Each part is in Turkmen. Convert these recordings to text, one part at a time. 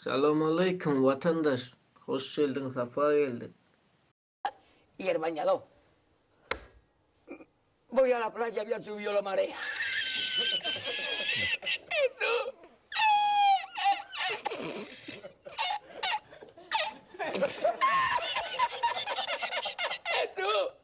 Salowmaleýkim watandaş! Hoş geldiň, sapa geldiň! Ýerban ýalow. Bu ýala pylan jemgyýet suwy ýolamary. Suw. Suw.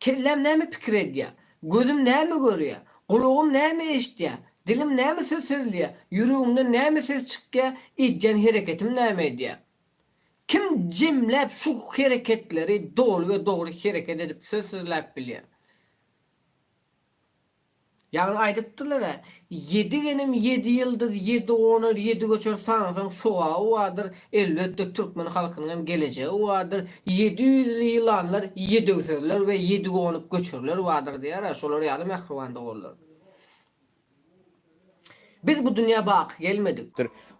Kelläm näme pikir edýär? Gözüm näme görýär? Gulagym näme eşitýär? Dilim näme söz sözleýär? Ýüregimden näme ses çykýar? Edýän hereketim näme edýär? Kim jemläp şu hereketleri doly we dogry hereket edip söz sözläp bilýär? Ýagny aýdypdylar-a, Ýedi genim, ýedi ýyldyz, ýedi gonar, ýedi göçer, sansaň sowaby bardyr, elbetde türkmen halkynyň hem gelejegi bardyr, ýedi ýüzli ýylanlar, ýedi öwsezler we ýedi gonup göçerler bardyr diýer-ä, şolar ýaly mähriban doganlar. Biz bu dünýä baky gelmedik.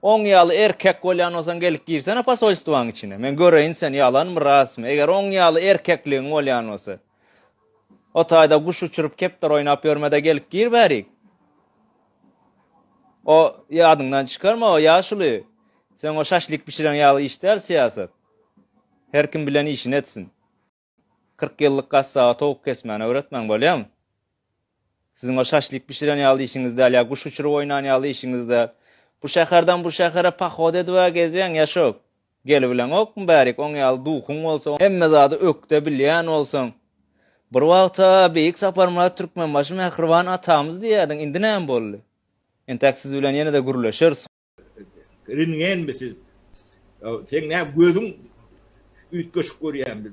Oň ýaly erkek bolýan bolsaň gelip girsene posolstwaň içine, men göreýin sen ýalanmy rasmy, eger oň ýaly erkekligiň bolýan bolsa. O taýda guş uçuryp, kepdar oýnap ýörme-de, gelip gir bärik. O, ýadyňdan çykarma, o ýaşuly. Seň o şaşlik bişireň ýaly iş däl syýasat. Her kim bilen işini etsin. Kyrk ýyllyk gassaba towuk kesmäni öwretmän bolýamy? Siziň o şaşlik bişiren ýaly işiňiz däl ýa guş uçuryp oýnan ýaly işiňiz däl. Bu şäherden bu şähere pahod edib-ä gezýäň, ýaşup. Gelibileňokmy bärik, oň ýaly duhuň bolsa, hemme zady ökde bilýän bolsaň. Bir wagta Beýik Saparmyrat Türkmenbaşy mähriban atamyz diýýärdiň, indi näme boldy? Entäk siz bilen ýene-de gürleşeris. Rengenmi siz? Seň näme gözüň üýtgeşik görýärmi?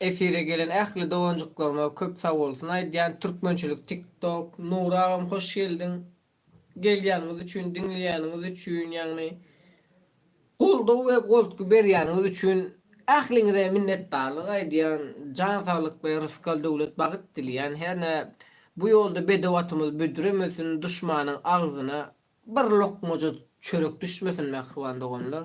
Efire gelen ähli doganjyklaryma köp sagbolsun aýdýan Türkmençilik tik tok. Nury agam hoş geldiň. Gelýäniňiz üçin diňleýäniňiz üçin ýagny goldaw we goltgy berýäniňiz üçin ähliňize minnetdarlyk aýdýan jan saglyk we rysgal döwlet bagyt dileýän hernä bu ýolda bedew atymyz büdremesin duşmanyň agzyna Bir lokmaja çörek düşmesin mähriban doganlar.